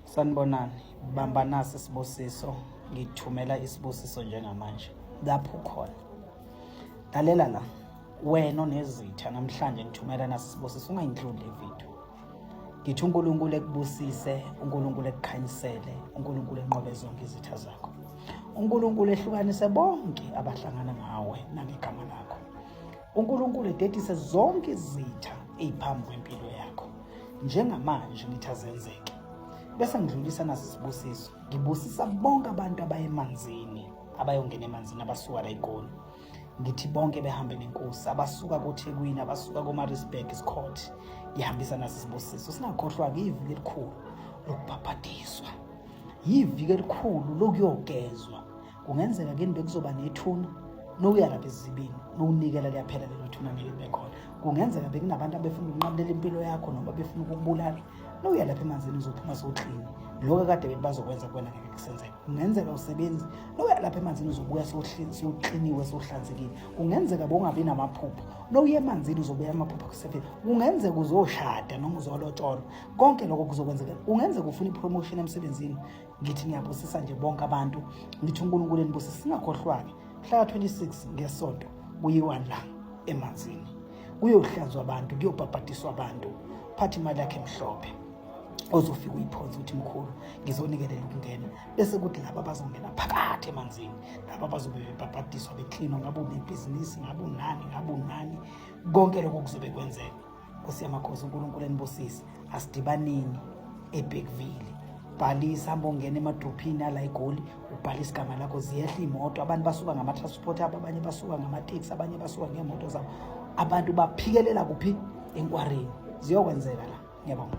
Sanibonani, bamba nasi isibusiso, ngithumela isibusiso njengamanje. Lapho khona. Lalela la. Wena onezitha namhlanje ngithumela nasi isibusiso ungayindluli le video. Ngithi uNkulunkulu ekubusise, uNkulunkulu ekukhanyisele, uNkulunkulu enqobe zonke izitha zakho. uNkulunkulu ehlukanise bonke abahlangana nawe nangegama lakho unkulunkulu ededise zonke izitha ey'phambi kwempilo yakho njengamanje ngithi azenzeke bese ngidlulisa naso isibusiso ngibusisa bonke abantu abayemanzini abayongena emanzini abasuka la egoli ngithi bonke behambe nenkosi abasuka kothekwini abasuka komarisburg isikhot ngihambisa naso isibusiso singakhohlwa-ke iviki elikhulu lokubhabhadiswa yiviki elikhulu lokuyogezwa kungenzeka kini bekuzoba nethuna nokuya lapha ezibini nokunikela liyaphela lelo thuna ngeke bekhona kungenzeka bekunabantu abefuna ukunqabulela impilo yakho noma befuna ukukubulala nokuya lapha emanzini uzophuma sowuklini lokho kade bethi bazokwenza kuwena ngeke kusenzeka kungenzeka usebenzi nokuya lapha emanzini uzobuya sowukliniwe sowuhlanzekile kungenzeka bongabi namaphupho nokuya emanzini uzobuya amaphupho akusefeni kungenzeka uzoshada noma uzolotsholwa konke lokho kuzokwenzeka kungenzeka ufuna ipromotion emsebenzini ngithi ngiyabusisa nje bonke abantu ngithi unkulunkulu enibusisa singakhohlwake mhlaka 26 ngesonto kuyiwa la emanzini kuyohlanzwa abantu kuyobhabhadiswa abantu phathi imali yakhe emhlophe ozofika uyiphonze ukuthi mkhulu ngizonikelela ukungena bese kuthi laba bazongena phakathi emanzini laba bazobe bebhabhadiswa beklinwa ngabe unebhizinisi ngabe unani ngabe unani konke lokho kuzobe kwenzeka Nkosi yamakhosi uNkulunkulu enibusise asidibaneni eBhekville bhalisa hamba ongena emadrophini ala egoli ubhalisa igama lakho ziyehla iy'moto abantu basuka ngama-transport abo abanye basuka ngamateksi abanye basuka ngeemoto zabo abantu baphikelela kuphi enkwareni ziyokwenzeka la ngiyabonga